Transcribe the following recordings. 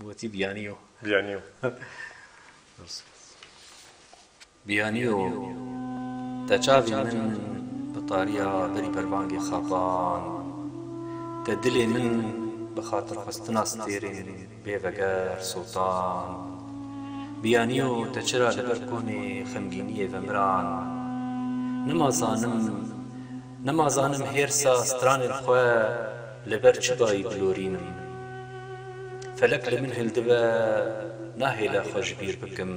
Gotî biyaniyo. Biyaniyo. Biyaniyo te çavê min bi tariya berî pervangê xapand. Te dilê min bi xatirxwestina stêrên bê veger sotand. Biyaniyo te çira li ber konê xemgîniyê vemiran. Nima zanim Nima zanim hêrsa stranên xwe li ber çi dayî bilorînim. Felek li min hildibe nahêle xwe ji bîr bikim.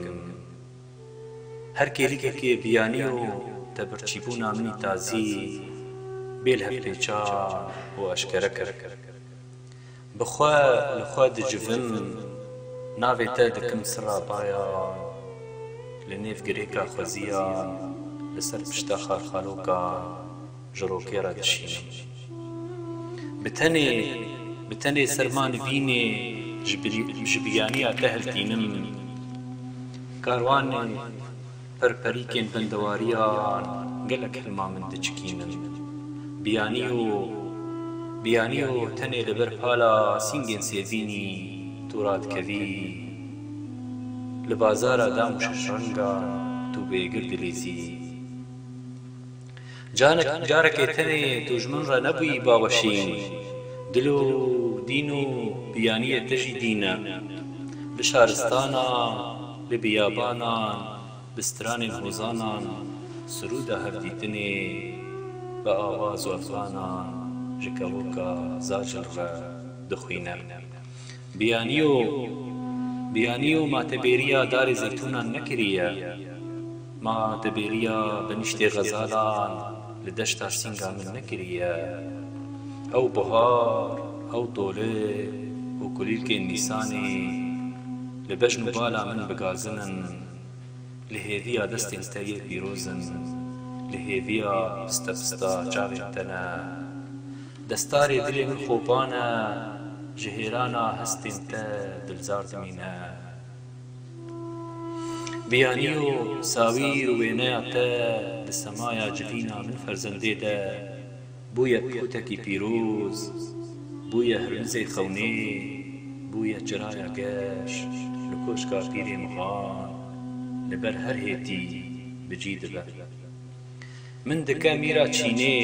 Her kêlikekê biyanî û tebirçîbûna min î tazî bê lhevpêçan û eşkere kir. Bi xwe li xwe dicivim, navê te dikim sira bayan, li nêv girêka xweziyan, li ser pişta xarxalokan ji rokê re dişînim. Bi tenê, bi tenê serma nivînê ji biyaniya te hiltînim. Karwanê. Pirpirîkên bindewariyan gelek hilma min diçikînin. Biyanî yo, biyanî yo tenê li ber pala sîngên sêvînî tu radikevî. Li bazara dam û şeşrengan tu bêgir dilîzî. Canek carekê tenê tu ji min re nebûyî baweşîn. Dil û dîn û biyaniyê te jî dîn e. Li şaristana, li biyabanan, bi stranên hozanan sirûda hevdîtinê bi awa zorzanan ji kevoka zajr re dixwîne. Biyaniyo, biyaniyo ma te bêriya darê zeytûnan nekiriye. Ma te bêriya beniştê xezalan li deşta sînga min nekiriye. Ew buhar, ew tole û kulîlkên nîsanê li bejn û bala min bigazin in. Li hêviya destên te yê pîroz in, li hêviya piste pista çavên te ne. Destarê dilê min xopan e, ji hêrana hestên te dilzar dimîne. Biyanî û sawîr û wêneya te di semaya civîna min ferzendê de. Bûye pixûtekî pîroz, bûye hirmizê xewnê, bûye çiraya geş li koşka pîrê mixan, li ber her hêtî bi cî dibe. Min dike mîra çînê,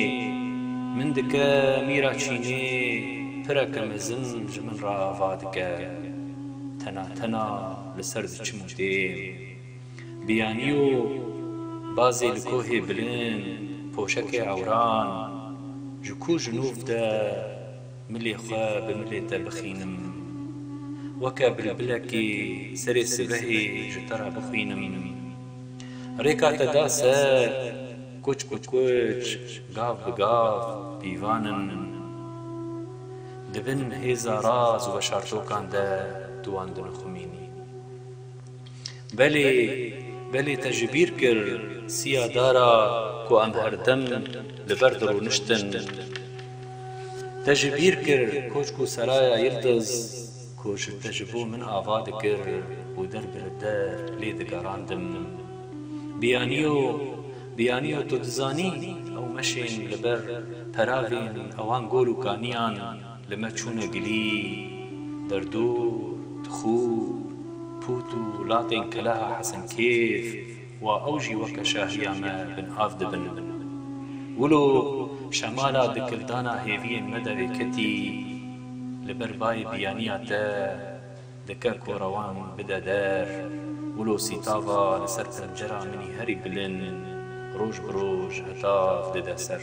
min dike mîra çînê, pireke mezin ji min re ava dike. Tena tena li ser diçim û dêm. Biyaniyo bazê li kohê bilind poşekê ewran ji ku ji nûv de milê xwe bi milê te bixînim. Weke bilbilekê serê sibehê ji te re bixwînim. Rêka te da ser, kuç bi kuç, gav bi gav pîvan in. Di bin hêza raz û veşartokan de tu wan dinixumînî. Belê, belê te ji bîr kir siya dara ku em her dem li ber dirûniştin. Te ji bîr kir koçk û seraya Yildiz ku ji te ji bo min ava dikir û der bi li der lê digerandim. Biyaniyo, biyaniyo tu dizanî ew meşên li ber peravên ewan gol û kaniyan, Li me çûne gilî, derdûr, tixûr, pût û latên keleha Hesenkêf wa ew jî weke şahiya me bin av dibin. Wilo şemala dikildana hêviyên me derê ketî, li ber bayê biyaniya te dike ku rewan bide der, wilo sîtava li ser pencera min î herî bilind roj bi roj hetav dide ser.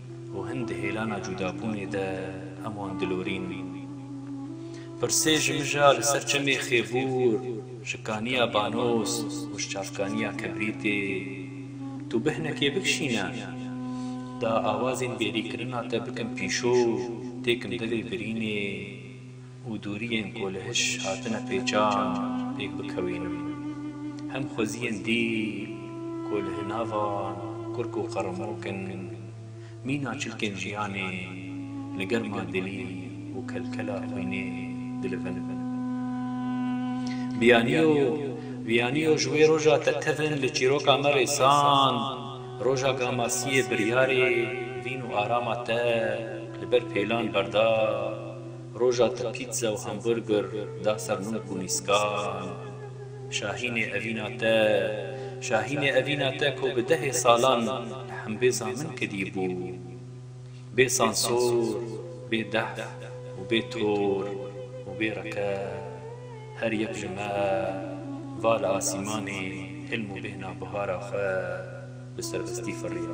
Û hin di hêlana cûdabûnê de heman dilorîn. Pirsê ji mija li ser çemê Xêbûr, ji kaniya Banos û ji çavkaniya Kibrîtê tu bihnekê bikişîne. Da awazên bêrîkirina te bikim pîşo, têkim devê birînê. û dûriyên ku li hiş hatine pêçan pêk bikewînim. Hem xweziyên dîl ku li hinavan kurk û qeremok in, mîna çilkên jiyanê li germa dilî û kelkela xwînê dilivin. Biyaniyo, Biyaniyo ji wê roja te tevin li çîroka me rêsand, roja Gamasiyê biryarê vîn û arama te li ber pêlan berda. Roja te pîtze û hamburger da ser nûk û nîskan. Şahînê evîna te, şahînê evîna te ku bi dehê salan li hembêza min kedî bû. Bê sansor, bê dehf û bê tor û bê reqe. Her yek ji me va li asîmanê hilm û bêhna bihara xwe bi serbestî firiya.